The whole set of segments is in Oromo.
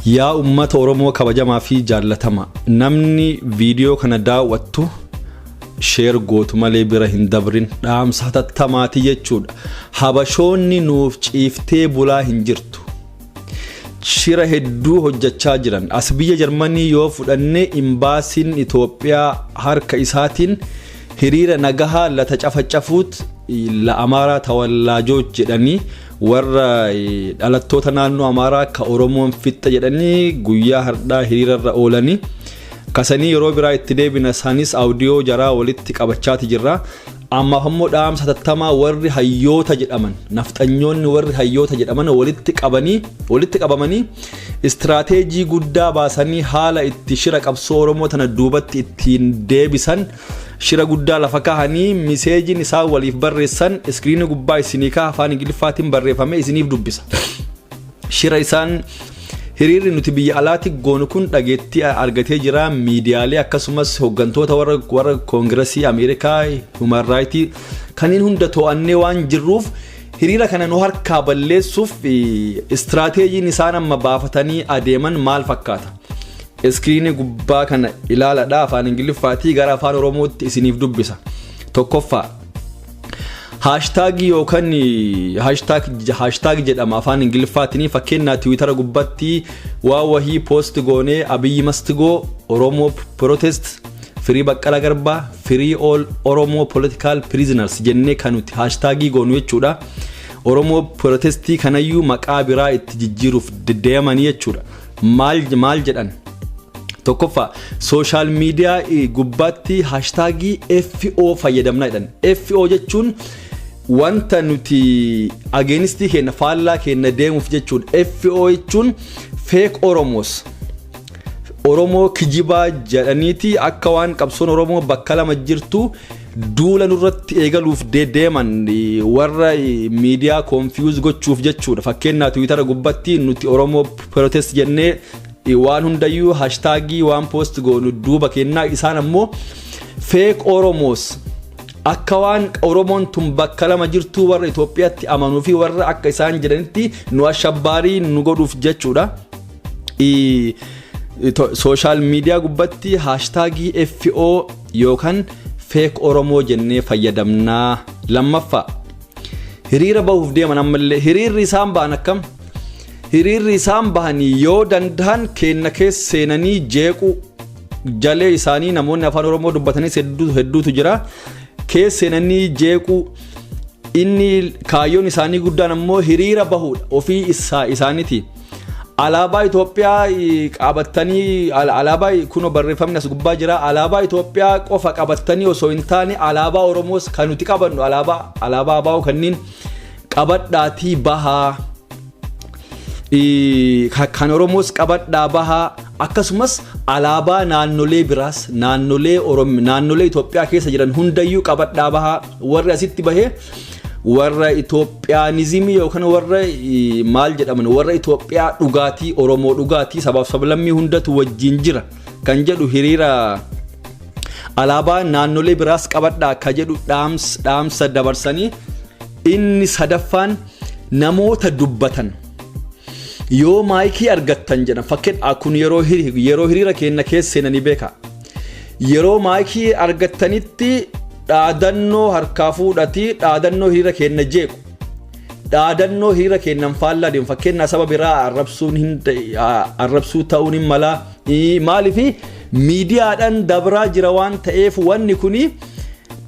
Yaa ummata oromoo kabajamaa fi jaallatama namni viidiyoo kana daaw'attu sheer gootu malee bira hin dabrin dhaamsa hatattamaati jechuudha habashoonni nuuf ciiftee bulaa hin jirtu shira hedduu hojjachaa jiran as biyya jarmanii yoo fudhanne imbaasiin itoophiyaa harka isaatiin hiriira nagahaa lata cafacafuut la amaaraa tawallaajooch jedhanii warra dhalattoota naannoo amaaraa akka oromoon fixxa jedhanii guyyaa hardhaa hiriirarra oolanii kasanii yeroo biraa itti deebina isaanis awudiyoo jaraa walitti qabachaati jirra ammaaf ammoo dhaamsa tattamaa warri hayyoota jedhaman nafxanyoonni warri hayyoota jedhaman walitti qabanii walitti qabamanii istiraateejii guddaa baasanii haala itti shira qabsoo oromoo tana duubatti ittiin deebisan Shira guddaa lafa kahanii miseejiin isaan waliif barreessan iskiriinii gubbaa isinii kaha afaan Ingiliffaatiin barreeffamee isiniif dubbisa. Shira isaan hiriirri nuti biyya alaatti goonu kun dhageettii argatee jira miidiyaalee akkasumas hooggantoota warra warra koongirasii Ameerikaa human raayitii kanneen hunda to'annee waan jirruuf hiriira kana nu harkaa balleessuuf istiraateejiin isaan amma baafatanii adeeman maal fakkaata? Iskiriinii gubbaa kana ilaaladha afaan ingiliffaatii gara afaan oromootti isiniif dubbisa. Tokkoffaa haashtaagii yookaan haashtaag jedhama afaan ingiliffaatiin fakkeenyaa tiwiitara gubbatti waa wahii poost goonee abiyyi mastigoo oromoo protest firii baqqala garbaa firii all oromoo political prisoners jennee kan nuti haashtaagii goonu jechuudha. Oromoo protestii kanayyuu maqaa biraa itti jijjiiruuf deddeeman jechuudha. maal maal jedhan tokkoffaa sooshaal miidiyaa eh, gubbaatti haashtaagii FO fayyadamna jedhan FO jechuun wanta nuti ageenistii keenya faallaa keenya deemuuf jechuun FO jechuun feek Oromoos Oromoo kijibaa jedhaniiti akka waan qabsoon Oromoo bakka lama jirtu Duula nurratti eegaluuf dedeeman warra miidiyaa konfiyuuz gochuuf jechuudha. Fakkeenyaa tiwiitara gubbatti nuti Oromoo protest jennee waan hundayyuu hashtaagii waan poost goonu duuba kennaa isaan ammoo feek Oromoos akka waan Oromoon tun bakka lama jirtuu warra Itoophiyaatti amanuu fi warra akka isaan jedhanitti nu ashabbaarii nu godhuuf jechuudha. Sooshaal miidiyaa gubbatti haashtaagii FO yookan fake oromoo jennee fayyadamnaa lammaffaa hiriira bahuuf deeman ammallee hiriirri isaan bahan akkam hiriirri isaan bahanii yoo dandahan keenna keessa seenanii jeequu jalee isaanii namoonni afaan oromoo dubbatanis hedduu hedduutu jira keessa seenanii jeequu inni kaayyoon isaanii guddaan ammoo hiriira bahuudha ofii isaa isaaniti Alaabaa Itoophiyaa qabattanii alaabaa kunoo barreeffamni as gubbaa jira. Alaabaa Itoophiyaa qofa qabattanii osoo hin taane alaabaa Oromoos kan nuti qabannu alaabaa alaabaa abaa'oo kanneen qabadhaatii bahaa. Kan Oromoos qabadhaa bahaa akkasumas alaabaa naannolee biraas naannolee Itoophiyaa keessa jiran hundayyuu qabadhaa bahaa. Warri asitti bahee warra Itoophiyaanizimii yookaan warra eh, maal jedhaman warra Itoophiyaa dhugaatii Oromoo dhugaatii sabaaf sablammii hundatu wajjin jira kan jedhu hiriira alaabaa naannolee biraas qabadha akka jedhu dhaams, dhaamsa dabarsanii inni sadaffaan namoota dubbatan yoo maayikii argattan jedhan fakkeen kun yeroo hiri- yeroo hiriira keenya keessa seenanii beeka Yeroo maayikii argattanitti dhaadannoo harkaa fuudhatii dhaadannoo hiriira keenna jeequ. Dhaadannoo hiriira keennan faallaa deemu fakkeenyaa saba biraa arrabsuun hin arrabsuu ta'uun hin mala. Maaliif miidiyaadhaan dabraa jira waan ta'eef wanni kun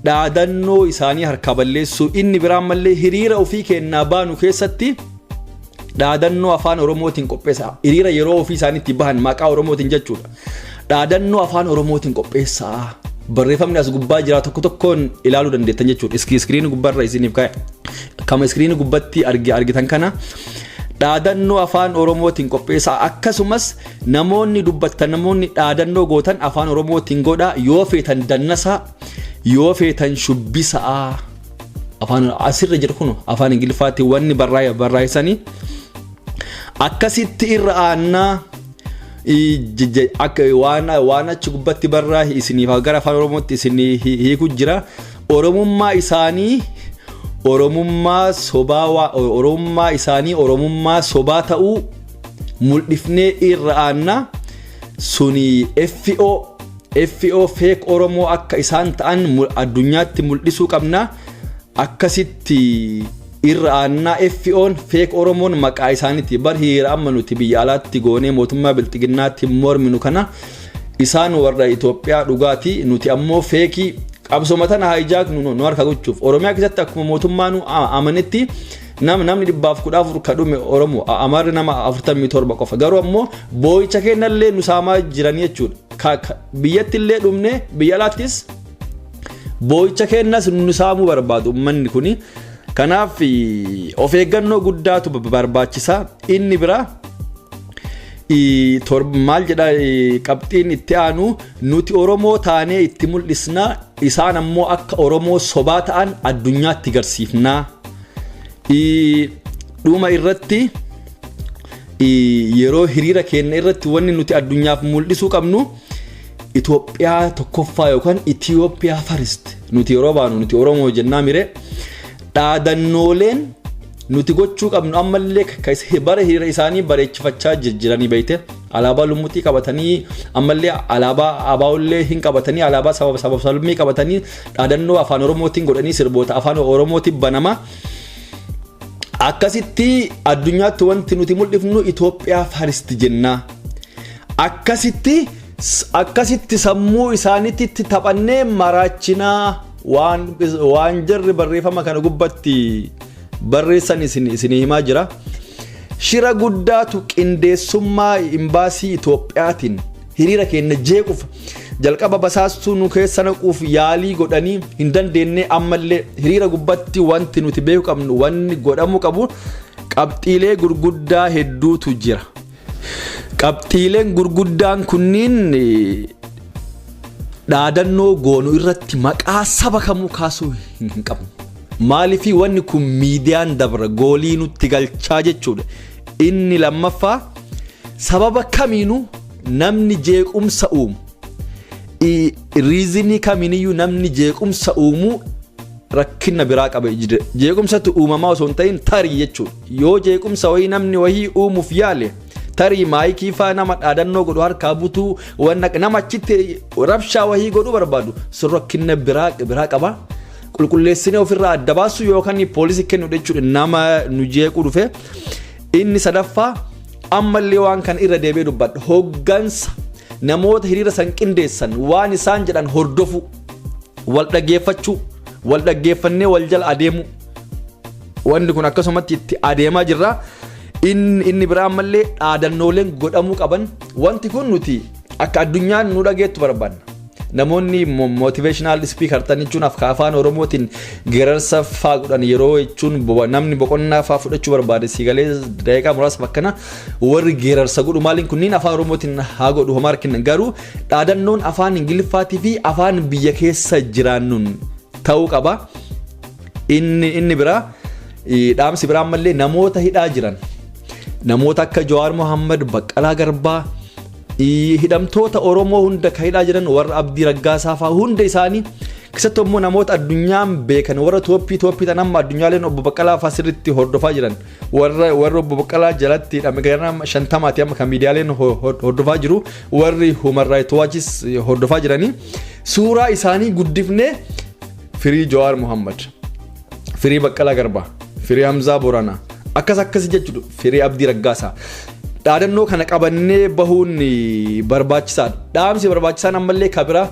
dhaadannoo isaanii harkaa balleessuu inni biraan mallee hiriira ofii keennaa baanu keessatti dhaadannoo afaan oromootiin qopheessa hiriira yeroo ofii isaaniitti bahan maqaa oromootiin jechuudha. Dhaadannoo afaan Oromootiin qopheessaa. Barreeffamni as gubbaa jira tokko tokkoon ilaaluu dandeettan jechuudha. Iski iskiriinii gubbaarra isiniif kaa'e. Kama iskiriinii gubbatti argi argitan kana dhaadannoo afaan Oromootiin qopheessaa akkasumas namoonni dubbattan namoonni dhaadannoo gootan afaan Oromootiin godhaa yoo feetan dannasaa yoo feetan shubbisaa afaan asirra jiru kun afaan Ingiliffaatti wanni barraa'e barraa'isanii akkasitti irra aannaa. akka waan waan achi gubbatti barraa isiniif gara afaan oromootti isin hiiku jira oromummaa isaanii oromummaa sobaa waa oromummaa isaanii oromummaa sobaa ta'uu mul'ifnee irra aanna suni FO FO feek oromoo akka isaan ta'an mul- addunyaatti mul'isuu qabna akkasitti Irra aannaa FOn feek Oromoon maqaa isaaniiti bar hiriira amma nuti biyya alaatti goonee mootummaa bilxiginnaatti morminu kana isaan warra Itoophiyaa dhugaati nuti ammoo feekii qabsoma tana haayijaak nu nu harka gochuuf Oromiyaa keessatti akkuma mootummaa nu a- amanetti nam namni dhibbaaf kudha afur ka dhume Oromoo a- Amaarri nama afurtamii torba qofa garuu ammoo boo'icha kennallee nu saamaa jiran jechuudha Ka- ka- biyyatti illee dhumne biyya alaattis Boo'icha keenyas nu saamuu barbaadu uummanni kun. Kanaaf of eeggannoo guddaatu barbaachisa. Inni biraa maal jedha qabxiin itti aanu nuti Oromoo taanee itti mul'isna isaan ammoo akka Oromoo sobaa ta'an addunyaatti garsiifna. Dhuma irratti yeroo hiriira keenya irratti wanni nuti addunyaaf mul'isuu qabnu. Itoophiyaa tokkoffaa yookaan Itiyoophiyaa farist nuti yeroo baanu nuti Oromoo jennaa mire dhaadannooleen nuti gochuu qabnu ammallee ka is- bara hiriira isaanii bareechifachaa jir- jiranii beekte alaabaa lummuxii qabatanii ammallee alaabaa abaa'ullee hin qabatanii alaabaa sababa sababa salmii qabatanii dhaadannoo afaan oromootiin godhanii sirboota afaan oromootiin banamaa akkasitti addunyaatti wanti nuti mul'ifnu Itoophiyaa faristi jennaa Akkasitti akkasitti sammuu isaanitti taphannee maraachinaa waan waan jarri barreeffama kana gubbatti barreessan isin isin himaa jira. Shira guddaatu qindeessummaa imbaasii Itoophiyaatiin hiriira keenya jeequuf jalqaba basaastuu nu keessa naquuf yaalii godhanii hin dandeenye ammallee hiriira gubbatti wanti nuti beeku qabnu wanni godhamuu qabu qabxiilee gurguddaa hedduutu jira. Qabxiileen gurguddaan kunniin dhaadannoo goonu irratti maqaa saba kamuu kaasuu hin qabnu. Maaliifii wanni kun miidiyaan dabra goolii nutti galchaa jechuudha. Inni lammaffaa sababa kamiinuu namni jeequmsa uumu. Riizinii kamiiniyyuu namni jeequmsa uumuu rakkina biraa qaba. Jeequmsatu uumamaa osoo hin ta'in tarii jechuudha. Yoo jeequmsa wayii namni wayii uumuuf yaale tarii maayikii faa nama dhaadannoo godhu harkaa butuu wanna nama achitti rabshaa wayii godhu barbaadu sun rakkinna biraa biraa qaba. Qulqulleessine ofirraa adda baasuu yookaan poolisii kennu jechuudha nama nu jeequu dhufe. Inni sadaffaa ammallee waan kana irra deebi'ee dubbadha. Hoggansa namoota hiriira san qindeessan waan isaan jedhan hordofuu, wal dhaggeeffachuu, wal dhaggeeffannee wal jala adeemuu. Wanni kun akkasumatti itti adeemaa jirra. Inni biraa ammallee dhaadannooleen godhamuu qaban wanti kun nuti akka addunyaan nu dhageettu barbaanna. Namoonni motivational speaker ta'an jechuun afaan Oromootiin geerarsa faa godhan yeroo jechuun namni boqonnaa faa fudhachuu barbaade siigalee daqiiqaa muraasa bakkana warri geerarsa godhu maaliin kunniin afaan Oromootiin haa godhu homaa rakkinna garuu dhaadannoon afaan Ingiliffaatii fi afaan biyya keessa jiraannuun ta'uu qaba. Inni inni biraa eh, dhaamsi biraa ammallee namoota hidhaa jiran namoota akka Jawaar Mohaammed, Baqqalaa Garbaa eh, hidhamtoota Oromoo hunda kan hidhaa jiran warra Abdii Raggaasaa fa'aa hunda isaanii keessattuu immoo namoota addunyaan beekan warra tooppii tooppii tan amma addunyaaleen obbo Baqqalaa fa'aa sirriitti hordofaa jiran warra warra obbo Baqqalaa jalatti hidhame gara shantamaati amma kan miidiyaaleen ho- ho- hordofaa jiru warri Human Rights Watchis eh, hordofaa jiranii suuraa isaanii guddifnee firii Jawaar Muhammad, firii Baqqalaa Garbaa, firii Hamzaa Booranaa akkas akkasi jechuudha firii Abdii Raggaasaa. Dhaadannoo kana qabannee bahuun barbaachisaadha. Dhaamsi barbaachisaan ammallee kabiraa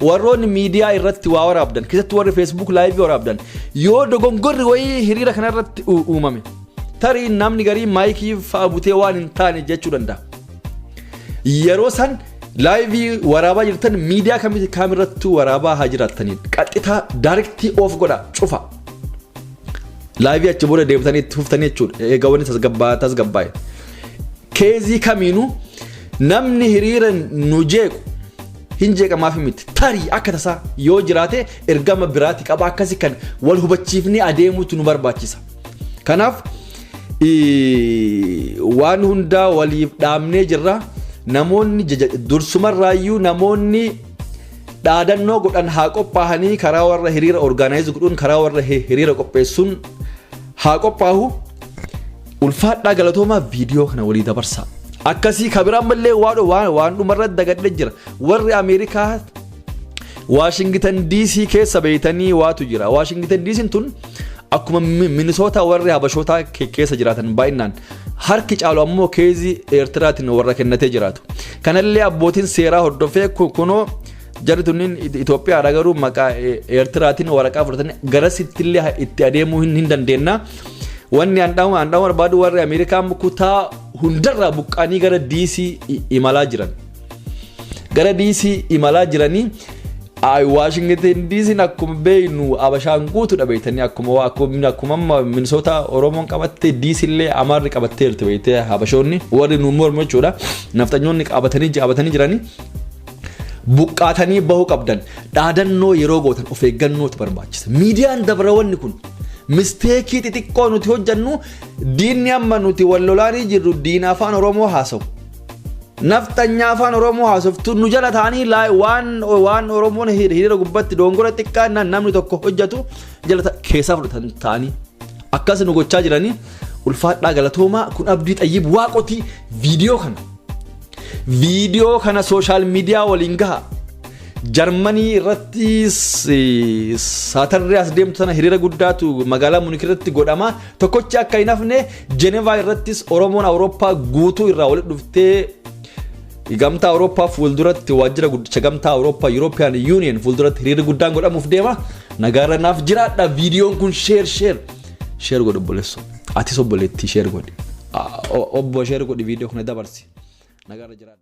warroonni miidiyaa irratti waa waraabdan keessatti warri feesbuuk laayivii waraabdan yoo dogongorri wayii hiriira kana irratti uumame tarii namni garii maayikii fa'a butee waan hin taane jechuu danda'a. Yeroo san Live waraabaa jirtan miidiyaa kamitti kaamirrattuu waraabaa haa jiraattaniin qaxxitaa daarektii oof godha cufa. Live achi booda deebitanii itti fuftanii jechuudha. Egaa wanni tasgabbaa'aa tasgabbaa'e. Keezii kamiinuu namni hiriira nu jeequ hin jeeqamaaf miti. Tarii akka tasaa yoo jiraate ergama biraati qaba akkasii kan wal hubachiifnee adeemuutu nu barbaachisa. Kanaaf waan hundaa waliif dhaabnee jirra. Namoonni dursumarraayyuu namoonni dhaadannoo godhan haa qophaahanii karaa warra hiriira orgaanaayiz godhuun karaa warra hiriira qopheessuun haa qophaahu. Ulfaadhaa galatoomaa viidiyoo kana walii dabarsaa. Akkasii kabiraan mallee waan dhumarra dagadhe jira. Warri Ameerikaa Waashingitan DC keessa beeytanii waatu jira. Waashingitan DC tun akkuma minisootaa warri habashootaa keessa jiraatan baay'inaan harki caalu ammoo keezii Eertiraatiin warra kennatee jiraatu. Kanallee abbootiin seeraa hordofee kunoo jarri tunniin Itoophiyaadha garuu maqaa Eertiraatiin waraqaa fudhatanii garasittillee itti adeemuu hin dandeenna. Wanni handhaama handhaama barbaadu warri Ameerikaa kutaa hundarraa buqqaanii gara DC imalaa jiran. Gara DC imalaa jiranii Ayi Waashingten diisiin akkuma beeknu abashaan guutuudha beektanii akkuma akkuma akkuma Minnesota Oromoon qabatte diisillee Amaarri qabattee jirti beektee habashoonni warri nu mormu jechuudha nafxanyoonni qabatanii jaabatanii jiranii buqqaatanii bahuu qabdan dhaadannoo yeroo gootan of eeggannootu barbaachisa miidiyaan dabarawanni kun misteekii xixiqqoo nuti hojjannu diinni amma nuti wal lolaanii jirru diina afaan Oromoo haasawu Nafxanyaa afaan Oromoo haasoftu nu jala taanii laa- waan waan Oromoon hir- hiriira gubbatti doongora xiqqaa na- namni tokko hojjetu jala ta- keessaa fudhatan taanii akkas nu gochaa jiranii ulfaadhaa galatoomaa kun abdii xayyib waaqotii viidiyoo kana viidiyoo kana sooshaal miidiyaa waliin gaha jarmanii irratti saatarree as deemtu sana hiriira guddaatu magaalaa munik irratti godhama Tokkochi akka hin hafne Jenevaa irrattis Oromoon Awurooppaa guutuu irraa walitti dhuftee Gamtaa Awurooppaa fuulduratti waajjira guddicha Gamtaa Awurooppaa European Union fuulduratti hiriirri guddaan godhamuuf deema. Nagaarra naaf jiraadha viidiyoon kun sheer sheer sheer godhu obboleessu. Atis obboleettii sheer godhi. Obbo sheer godhi viidiyoo kana dabarsi. Nagaarra jiraadha.